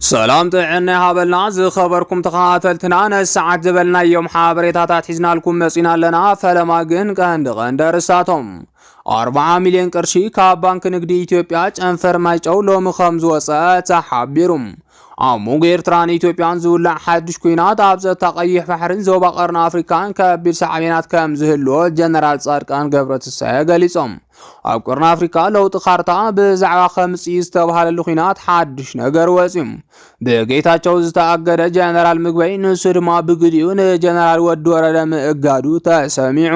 ሰላም ጥዕና ይሃበልና ዝኸበርኩም ተኸታተልትና ነሰዓት ዝበልናዮም ሓበሬታታት ሒዝናልኩም መጺና ኣለና። ፈለማ ግን ቀንዲ ቀንዲ ኣርስታቶም ኣርብዓ ሚልዮን ቅርሺ ካብ ባንኪ ንግዲ ኢትዮጵያ ጨንፈር ማይጨው ሎሚ ከም ዝወፀአ ተሓቢሩ። ኣብ መንጎ ኤርትራን ኢትዮጵያን ዝውላዕ ሓድሽ ኩናት ኣብ ጸጥታ ቀይሕ ባሕርን ዞባ ቀርኒ ኣፍሪካን ከቢድ ሳዕቤናት ከም ዝህልዎ ጀነራል ጻድቃን ገብረትንሳኤ ገሊጾም። ኣብ ቀርኒ ኣፍሪካ ለውጢ ካርታ ብዛዕባ ከምፂ ዝተባሃለሉ ኩናት ሓድሽ ነገር ወፅዩ ብጌታቸው ዝተኣገደ ጀነራል ምግበይ ንሱ ድማ ብግዲኡ ንጀነራል ወዲ ወረደ ምእጋዱ ተሰሚዑ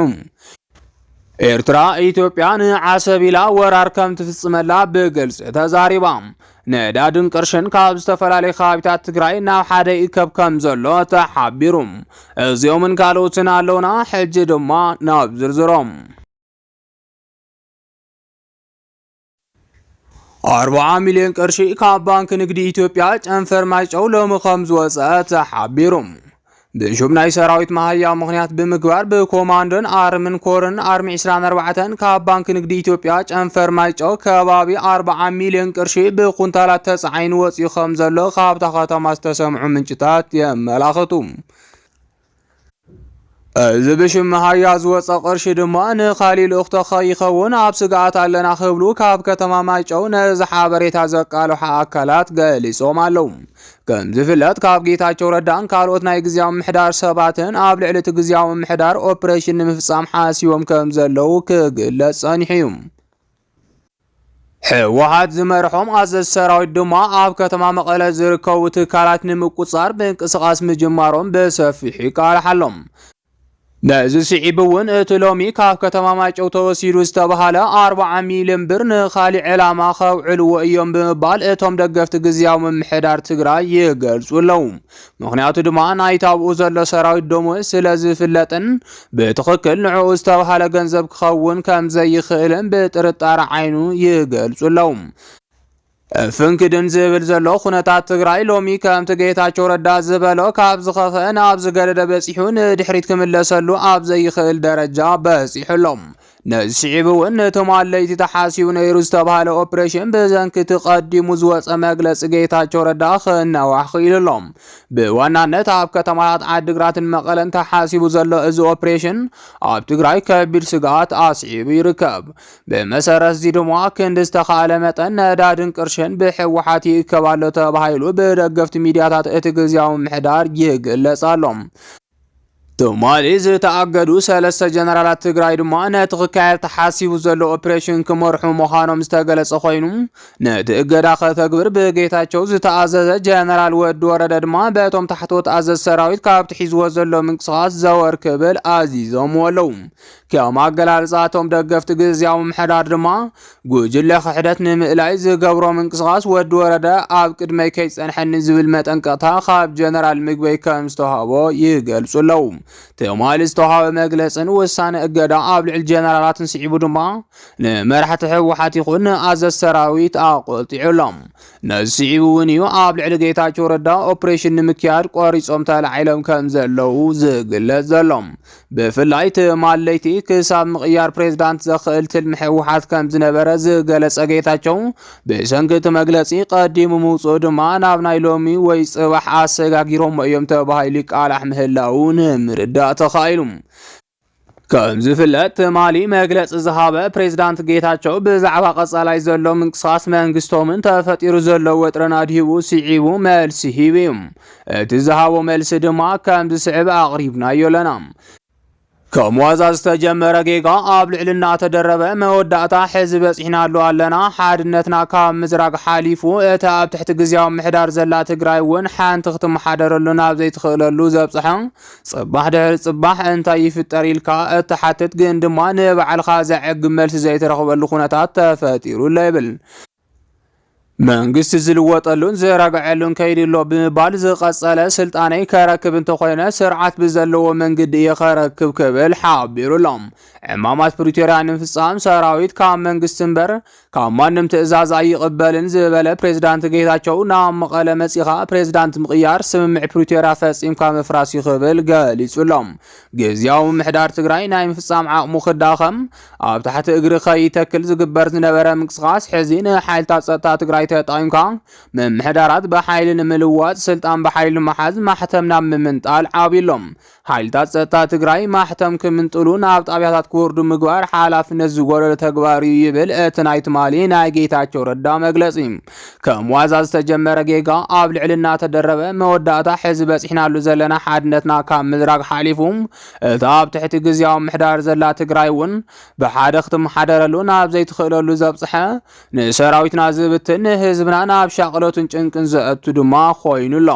ኤርትራ ኢትዮጵያ ንዓሰብ ኢላ ወራር ከም ትፍጽመላ ብግልጺ ተዛሪባ ነዳድን ቅርሽን ካብ ዝተፈላለዩ ከባቢታት ትግራይ ናብ ሓደ ይከብ ከም ዘሎ ተሓቢሩ እዚኦምን ካልኦትን ኣለውና ሕጂ ድማ ናብ ዝርዝሮም ኣርብዓ ሚልዮን ቅርሺ ካብ ባንክ ንግዲ ኢትዮጵያ ጨንፈር ማይጨው ሎሚ ከም ዝወፀአ ተሓቢሩ ብሹም ናይ ሰራዊት መሃያ ምክንያት ብምግባር ብኮማንዶን ኣርምን ኮርን ኣርሚ 24 ካብ ባንክ ንግዲ ኢትዮጵያ ጨንፈር ማይጨው ከባቢ 40 ሚልዮን ቅርሺ ብኩንታላት ተፃዒኑ ወፂኡ ከም ዘሎ ካብታ ከተማ ዝተሰምዑ ምንጭታት የመላኽቱ። እዚ ብሽም መሃያ ዝወፀ ቅርሺ ድማ ንካሊእ ልእኽቶ ከይኸውን ኣብ ስግኣት ኣለና ክብሉ ካብ ከተማ ማይጨው ነዚ ሓበሬታ ዘቃልሑ ኣካላት ገሊፆም ኣለው። ከም ዝፍለጥ ካብ ጌታቸው ረዳን ካልኦት ናይ ግዜያዊ ምሕዳር ሰባትን ኣብ ልዕሊ እቲ ግዜያዊ ምሕዳር ኦፕሬሽን ንምፍፃም ሓሲቦም ከም ዘለው ክግለፅ ጸኒሑ እዩ። ህወሓት ዝመርሖም ኣዘዝ ሰራዊት ድማ ኣብ ከተማ መቐለ ዝርከቡ ትካላት ንምቁፃር ምንቅስቓስ ምጅማሮም ብሰፊሑ ይቃልሓሎም። ነዚ ስዒብ እውን እቲ ሎሚ ካብ ከተማ ማይጨው ተወሲዱ ዝተባሃለ 40 ሚሊዮን ብር ንካሊእ ዕላማ ከውዕልዎ እዮም ብምባል እቶም ደገፍቲ ግዝያዊ ምምሕዳር ትግራይ ይገልፁ ኣለዉ። ምኽንያቱ ድማ ናይቲ ኣብኡ ዘሎ ሰራዊት ደሞዝ ስለ ዝፍለጥን ብትኽክል ንዕኡ ዝተብሃለ ገንዘብ ክኸውን ከም ዘይኽእልን ብጥርጣረ ዓይኑ ይገልጹ ኣለዉ። ፍንክድን ዝብል ዘሎ ኩነታት ትግራይ ሎሚ ከምቲ ጌታቸው ረዳ ዝበሎ ካብ ዝኸፍአ ናብ ዝገደደ በፂሑ ንድሕሪት ክምለሰሉ ኣብ ዘይኽእል ደረጃ በፂሑ ኣሎ። ነዚ ስዒቡ እውን ነቶም ኣለይቲ ተሓሲቡ ነይሩ ዝተባሃለ ኦፕሬሽን ብዘንኪቲ ቀዲሙ ዝወፀ መግለፂ ጌታቸው ረዳ ክናዋሕ ክኢሉ ኣሎ። ብዋናነት ኣብ ከተማታት ዓዲግራትን መቐለን ተሓሲቡ ዘሎ እዚ ኦፕሬሽን ኣብ ትግራይ ከቢድ ስግኣት ኣስዒቡ ይርከብ። ብመሰረት እዚ ድማ ክንዲ ዝተኻእለ መጠን ነዳድን ቅርሽን ብሕወሓት ይእከብ ኣሎ ተባሂሉ ብደገፍቲ ሚዲያታት እቲ ግዝያዊ ምሕዳር ይግለጽ ኣሎ። ትማሊ ዝተኣገዱ ሰለስተ ጀነራላት ትግራይ ድማ ነቲ ክካየድ ተሓሲቡ ዘሎ ኦፕሬሽን ክመርሑ ምዃኖም ዝተገለጸ ኮይኑ ነቲ እገዳ ከተግብር ብጌታቸው ዝተኣዘዘ ጀነራል ወዲ ወረደ ድማ በቶም ታሕተዎት ኣዘዝ ሰራዊት ካብቲ ሒዝዎ ዘሎ ምንቅስቓስ ዘወር ክብል ኣዚዞምዎ ኣለዉ። ከም ኣገላልፃ እቶም ደገፍቲ ግዝያዊ ምምሕዳር ድማ ጉጅለ ክሕደት ንምእላይ ዝገብሮ ምንቅስቓስ ወዲ ወረደ ኣብ ቅድመይ ከይፀንሐኒ ዝብል መጠንቀቕታ ካብ ጀነራል ምግበይ ከም ዝተዋህቦ ይገልፁ ኣለዉ። ትማሊ ዝተዋህበ መግለፅን ውሳነ እገዳ ኣብ ልዕሊ ጀነራላትን ስዒቡ ድማ ንመራሕቲ ህወሓት ይኹን ንኣዘዝ ሰራዊት ኣቆልጢዑ ኣሎ። ነዚ ስዒቡ እውን እዩ ኣብ ልዕሊ ጌታቸው ረዳ ኦፕሬሽን ንምክያድ ቆሪፆም ተላዒሎም ከም ዘለዉ ዝግለፅ ዘሎ። ብፍላይ ትማለይቲ ክሳብ ምቕያር ፕሬዝዳንት ዘኽእል ትልሚ ህወሓት ከም ዝነበረ ዝገለጸ ጌታቸው ብሰንኪ እቲ መግለጺ ቀዲሙ ምውፅኡ ድማ ናብ ናይ ሎሚ ወይ ጽባሕ ኣሰጋጊሮሞ እዮም ተባሂሉ ይቃላሕ ምህላው ንምርዳእ ተኻኢሉ። ከም ዝፍለጥ ትማሊ መግለፂ ዝሃበ ፕሬዝዳንት ጌታቸው ብዛዕባ ቀጻላይ ዘሎ ምንቅስቓስ መንግስቶምን ተፈጢሩ ዘሎ ወጥረን ኣድሂቡ ስዒቡ መልሲ ሂቡ እዩ። እቲ ዝሃቦ መልሲ ድማ ከም ዝስዕብ ኣቕሪብናዮ ኣለና። ከም ዋዛ ዝተጀመረ ጌጋ ኣብ ልዕሊ እናተደረበ መወዳእታ ሕዚ በፂሕናሉ ኣለና። ሓድነትና ካብ ምዝራግ ሓሊፉ እታ ኣብ ትሕቲ ግዝያዊ ምሕዳር ዘላ ትግራይ እውን ሓንቲ ክትመሓደረሉ ናብ ዘይትኽእለሉ ዘብፅሐ ፅባሕ ድሕሪ ፅባሕ እንታይ ይፍጠር ኢልካ እትሓትት ግን ድማ ንባዕልኻ ዘዕግብ መልሲ ዘይትረኽበሉ ኩነታት ተፈጢሩ ኣሎ ይብል። መንግስቲ ዝልወጠሉን ዝረግዐሉን ከይዲ ኣሎ ብምባል ዝቐፀለ ስልጣነይ ከረክብ እንተኾይነ ስርዓት ብዘለዎ መንገዲ እየ ከረክብ ክብል ሓቢሩ ኣሎ። ዕማማት ፕሪቶርያ ንምፍፃም ሰራዊት ካብ መንግስቲ እምበር ካብ ማንም ትእዛዝ ኣይቕበልን ዝበለ ፕሬዝዳንት ጌታቸው ናብ መቐለ መፂኻ ፕሬዝዳንት ምቕያር ስምምዕ ፕሪቶርያ ፈፂምካ ምፍራስ እዩ ክብል ገሊፁ ኣሎ። ግዝያዊ ምሕዳር ትግራይ ናይ ምፍፃም ዓቕሙ ክዳኸም ኣብ ትሕቲ እግሪ ከይተክል ዝግበር ዝነበረ ምንቅስቓስ ሕዚ ንሓይልታት ጸጥታ ትግራይ ተጠቒምካ ምምሕዳራት ብሓይሊ ንምልዋጥ ስልጣን ብሓይሊ መሓዝ ማሕተም ናብ ምምንጣል ዓብዩሎም ሓይልታት ጸጥታ ትግራይ ማሕተም ክምንጥሉ ናብ ጣብያታት ክወርዱ ምግባር ሓላፍነት ዝጎደሎ ተግባር እዩ ይብል እቲ ናይ ትማሊ ናይ ጌታቸው ረዳ መግለጺ። ከም ዋዛ ዝተጀመረ ጌጋ ኣብ ልዕሊ እናተደረበ መወዳእታ ሕዚ በፂሕናሉ ዘለና ሓድነትና ካብ ምዝራግ ሓሊፉ እታ ኣብ ትሕቲ ግዝያዊ ምሕዳር ዘላ ትግራይ እውን ብሓደ ክትመሓደረሉ ናብ ዘይትኽእለሉ ዘብፅሐ፣ ንሰራዊትና ዝብትን ንህዝብና ናብ ሻቕሎትን ጭንቅን ዘእቱ ድማ ኮይኑ ኣሎ።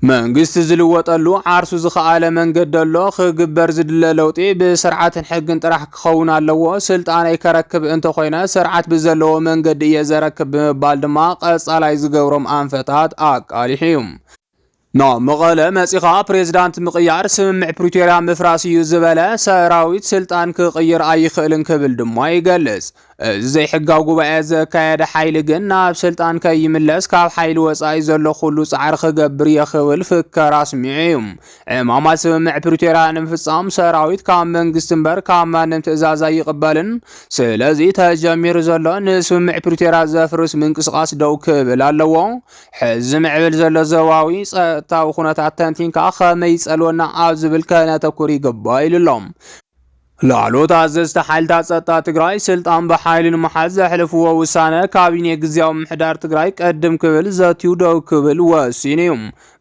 መንግስቲ ዝልወጠሉ ዓርሱ ዝኸኣለ መንገዲ ኣሎ። ክግበር ዝድለ ለውጢ ብስርዓትን ሕግን ጥራሕ ክኸውን ኣለዎ። ስልጣነይ ከረክብ እንተኾይነ ስርዓት ብዘለዎ መንገዲ እየ ዘረክብ ብምባል ድማ ቀፃላይ ዝገብሮም ኣንፈታት ኣቃሊሑ እዩ። ን መቐለ መጺኻ ፕሬዚዳንት ምቕያር ስምምዕ ፕሪቶርያ ምፍራስ እዩ ዝበለ ሰራዊት ስልጣን ክቕይር ኣይኽእልን ክብል ድማ ይገልጽ። እዚ ዘይሕጋዊ ጉባኤ ዘካየደ ሓይሊ ግን ናብ ስልጣን ከይምለስ ካብ ሓይሊ ወጻኢ ዘሎ ኩሉ ጻዕሪ ክገብር እየ ክብል ፍከራ ኣስሚዑ እዩ። ዕማማት ስምምዕ ፕሪቶርያ ንምፍጻም ሰራዊት ካብ መንግስቲ እምበር ካብ ማንም ትእዛዝ ኣይቕበልን። ስለዚ ተጀሚሩ ዘሎ ንስምምዕ ፕሪቶርያ ዘፍርስ ምንቅስቓስ ደው ክብል ኣለዎ። ሕዚ ዝምዕብል ዘሎ ዞባዊ ጸጥታዊ ኩነታት ተንቲንካ ከመይ ይጸልወና ኣብ ዝብል ከነተኩር ይግባእ ኢሉ ኣሎ። ላዕሎት ኣዘዝቲ ሓይልታት ጸጥታ ትግራይ ስልጣን ብሓይሊ ንምሓዝ ዘሕልፍዎ ውሳነ ካቢኔ ግዝያዊ ምሕዳር ትግራይ ቅድም ክብል ዘትዩ ደው ክብል ወሲኑ እዩ።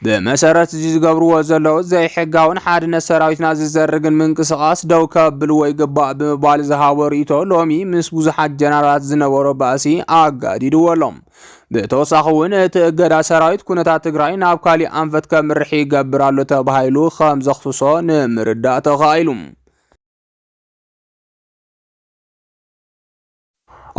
ብመሰረት እዚ ዝገብርዎ ዘለዉ ዘይሕጋውን ሓድነት ሰራዊትና ዝዘርግን ምንቅስቓስ ደው ከብልዎ ይግባእ ብምባል ዝሃቦ ርእይቶ ሎሚ ምስ ብዙሓት ጀነራላት ዝነበሮ ባእሲ ኣጋዲድዎ ኣሎም። ብተወሳኺ እውን እቲ እገዳ ሰራዊት ኩነታት ትግራይ ናብ ካሊእ ኣንፈት ከምርሕ ይገብር ኣሎ ተባሂሉ ከም ዘኽስሶ ንምርዳእ ተኻኢሉ።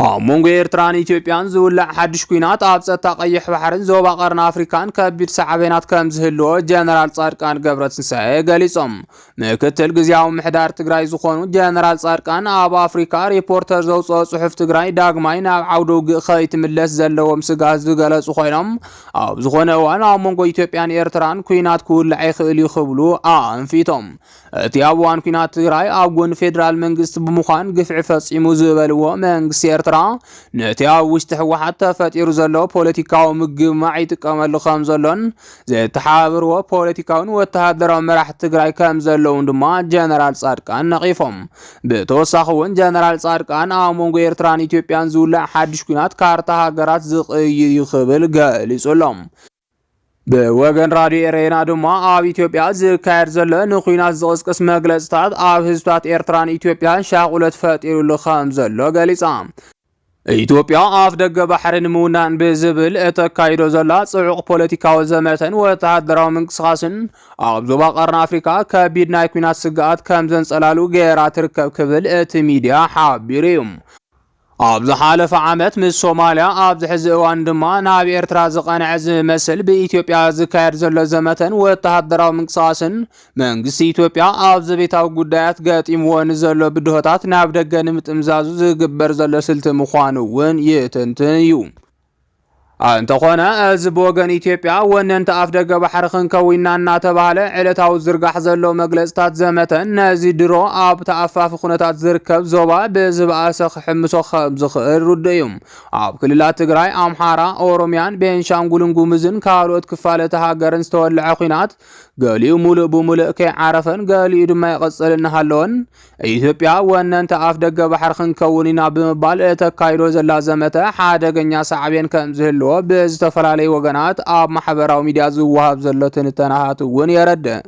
ኣብ መንጎ ኤርትራን ኢትዮጵያን ዝውላዕ ሓድሽ ኩናት ኣብ ጸጥታ ቀይሕ ባሕርን ዞባ ቀርኒ ኣፍሪካን ከቢድ ሳዕቤናት ከም ዝህልዎ ጀነራል ጻድቃን ገብረትንሳኤ ገሊጾም። ምክትል ግዜያዊ ምሕዳር ትግራይ ዝኾኑ ጀነራል ጻድቃን ኣብ ኣፍሪካ ሪፖርተር ዘውፅኦ ጽሑፍ ትግራይ ዳግማይ ናብ ዓውደ ውግእ ከይትምለስ ዘለዎም ስጋት ዝገለጹ ኮይኖም ኣብ ዝኾነ እዋን ኣብ መንጎ ኢትዮጵያን ኤርትራን ኩናት ክውላዕ ይኽእል እዩ ክብሉ ኣንፊቶም። እቲ ኣብ እዋን ኩናት ትግራይ ኣብ ጎኒ ፌዴራል መንግስቲ ብምዃን ግፍዒ ፈጺሙ ዝበልዎ መንግስቲ ኤርትራ ነቲ ኣብ ውሽጢ ህወሓት ተፈጢሩ ዘሎ ፖለቲካዊ ምግማዕ ይጥቀመሉ ከም ዘሎን ዘተሓባብርዎ ፖለቲካውን ወተሃደራዊ መራሕቲ ትግራይ ከም ዘለውን ድማ ጀነራል ጻድቃን ነቒፎም። ብተወሳኺ እውን ጀነራል ጻድቃን ኣብ መንጎ ኤርትራን ኢትዮጵያን ዝውላዕ ሓድሽ ኩናት ካርታ ሃገራት ዝቕይር እዩ ክብል ገሊጹ ኣሎ። ብወገን ራድዮ ኤሬና ድማ ኣብ ኢትዮጵያ ዝካየድ ዘሎ ንኩናት ዝቕስቅስ መግለጽታት ኣብ ህዝብታት ኤርትራን ኢትዮጵያን ሻቑሎት ፈጢሩሉ ከም ዘሎ ገሊጻ። ኢትዮጵያ ኣፍደገ ባሕሪ ንምውናን ብዝብል እተካይዶ ዘላ ጽዑቕ ፖለቲካዊ ዘመተን ወተሃደራዊ ምንቅስቓስን ኣብ ዞባ ቀርኒ ኣፍሪካ ከቢድ ናይ ኩናት ስግኣት ከም ዘንጸላሉ ገይራ ትርከብ ክብል እቲ ሚድያ ሓቢሩ እዩ። ኣብ ዝሓለፈ ዓመት ምስ ሶማልያ ኣብዚ ሕዚ እዋን ድማ ናብ ኤርትራ ዝቐንዐ ዝመስል ብኢትዮጵያ ዝካየድ ዘሎ ዘመተን ወተሃደራዊ ምንቅስቓስን መንግስቲ ኢትዮጵያ ኣብ ዘቤታዊ ጉዳያት ገጢምዎ ንዘሎ ብድሆታት ናብ ደገ ንምጥምዛዙ ዝግበር ዘሎ ስልቲ ምዃኑ እውን ይትንትን እዩ። እንተኾነ እዚ ብወገን ኢትዮጵያ ወነንቲ ኣፍ ደገ ባሕሪ ክንከዊና እናተባህለ ዕለታዊ ዝርጋሕ ዘሎ መግለፅታት ዘመተን ነዚ ድሮ ኣብ ተኣፋፊ ኩነታት ዝርከብ ዞባ ብዝበኣሰ ክሕምሶ ከም ዝኽእል ርዱእ እዩ። ኣብ ክልላት ትግራይ፣ ኣምሓራ፣ ኦሮሚያን ቤንሻንጉልን ጉምዝን ካልኦት ክፋለቲ ሃገርን ዝተወልዐ ኩናት ገሊኡ ሙሉእ ብሙሉእ ከይዓረፈን ገሊኡ ድማ ይቕፅል እናሃለወን ኢትዮጵያ ወነንቲ ኣፍ ደገ ባሕሪ ክንከውን ኢና ብምባል እተካይዶ ዘላ ዘመተ ሓደገኛ ሳዕቤን ከም ዝህልዎ ብዝተፈላለዩ ወገናት ኣብ ማሕበራዊ ሚዲያ ዝወሃብ ዘሎ ትንተናታት እውን የረድእ።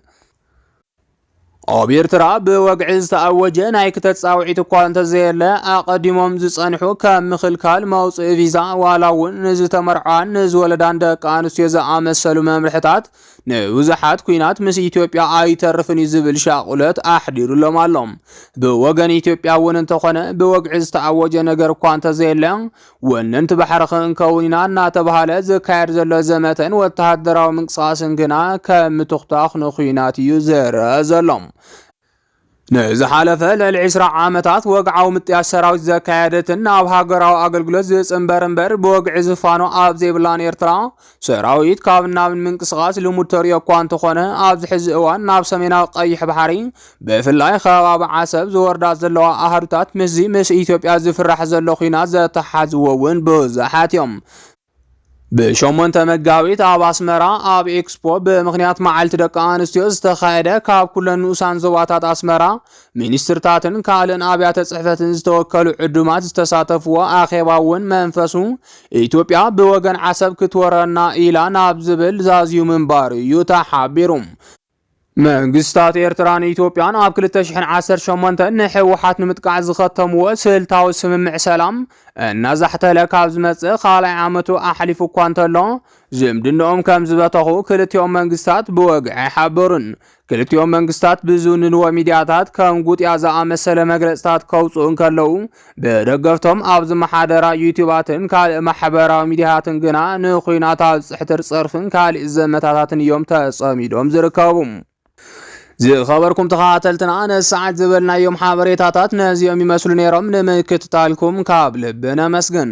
ኣብ ኤርትራ ብወግዒ ዝተኣወጀ ናይ ክተት ጻውዒት እኳ እንተዘየለ ኣቐዲሞም ዝጸንሑ ከም ምኽልካል መውጽኢ ቪዛ ዋላ እውን ንዝተመርዓዋን ንዝወለዳን ደቂ ኣንስትዮ ዝኣመሰሉ መምርሕታት ንብዙሓት ኩናት ምስ ኢትዮጵያ ኣይተርፍን እዩ ዝብል ሻቑለት ኣሕዲሩሎም ኣሎ። ብወገን ኢትዮጵያ እውን እንተኾነ ብወግዒ ዝተኣወጀ ነገር እኳ እንተዘየለ ወነንቲ ባሕሪ ክንከውን ኢና እናተብሃለ ዝካየድ ዘሎ ዘመተን ወተሃደራዊ ምንቅስቓስን ግና ከም ምትኹታኽ ንኩናት እዩ ዝርአ ዘሎ። ንዝሓለፈ ልዕሊ ዕስራ ዓመታት ወግዓዊ ምጥያስ ሰራዊት ዘካየደትን ናብ ሃገራዊ ኣገልግሎት ዝጽንበር እምበር ብወግዒ ዝፋኖ ኣብ ዘይብላን ኤርትራ ሰራዊት ካብ ናብን ምንቅስቓስ ልሙድ ተርእዮ እኳ እንተኾነ ኣብዚ ሕዚ እዋን ናብ ሰሜናዊ ቀይሕ ባሕሪ ብፍላይ ከባቢ ዓሰብ ዝወርዳ ዘለዋ ኣሃዱታት ምስዚ ምስ ኢትዮጵያ ዝፍራሕ ዘሎ ኩናት ዘተሓዝዎ እውን ብዙሓት እዮም። ብሸሞንተ መጋቢት ኣብ ኣስመራ ኣብ ኤክስፖ ብምኽንያት መዓልቲ ደቂ ኣንስትዮ ዝተኻየደ ካብ ኩለን ንኡሳን ዞባታት ኣስመራ ሚኒስትርታትን ካልእን ኣብያተ ጽሕፈትን ዝተወከሉ ዕዱማት ዝተሳተፍዎ ኣኼባ እውን መንፈሱ ኢትዮጵያ ብወገን ዓሰብ ክትወረና ኢላ ናብ ዝብል ዛዝዩ ምንባሩ እዩ ተሓቢሩ። መንግስታት ኤርትራን ኢትዮጵያን ኣብ 2018 ንሕወሓት ንምጥቃዕ ዝኸተምዎ ስልታዊ ስምምዕ ሰላም እናዛሕተለ ካብ ዝመጽእ ካልኣይ ዓመቱ ኣሕሊፉ እኳ እንተሎ ዝምድንኦም ከም ዝበተኹ ክልቲኦም መንግስታት ብወግዒ ሓበሩን ክልቲኦም መንግስታት ብዝውንንዎ ሚዲያታት ከም ጉጥያ ዝኣመሰለ መግለፅታት ከውፅኡ እንከለዉ ብደገፍቶም ኣብ ዝመሓደራ ዩቲባትን ካልእ ማሕበራዊ ሚዲያታትን ግና ንኩናት ኣብ ፅሕትር ፀርፍን ካልእ ዘመታታትን እዮም ተፀሚዶም ዝርከቡ። ዝኸበርኩም ተኸታተልትና ነዚ ሰዓት ዝበልናዮም ሓበሬታታት ነዚኦም ይመስሉ ነይሮም። ንምክትታልኩም ካብ ልቢ ነመስግን።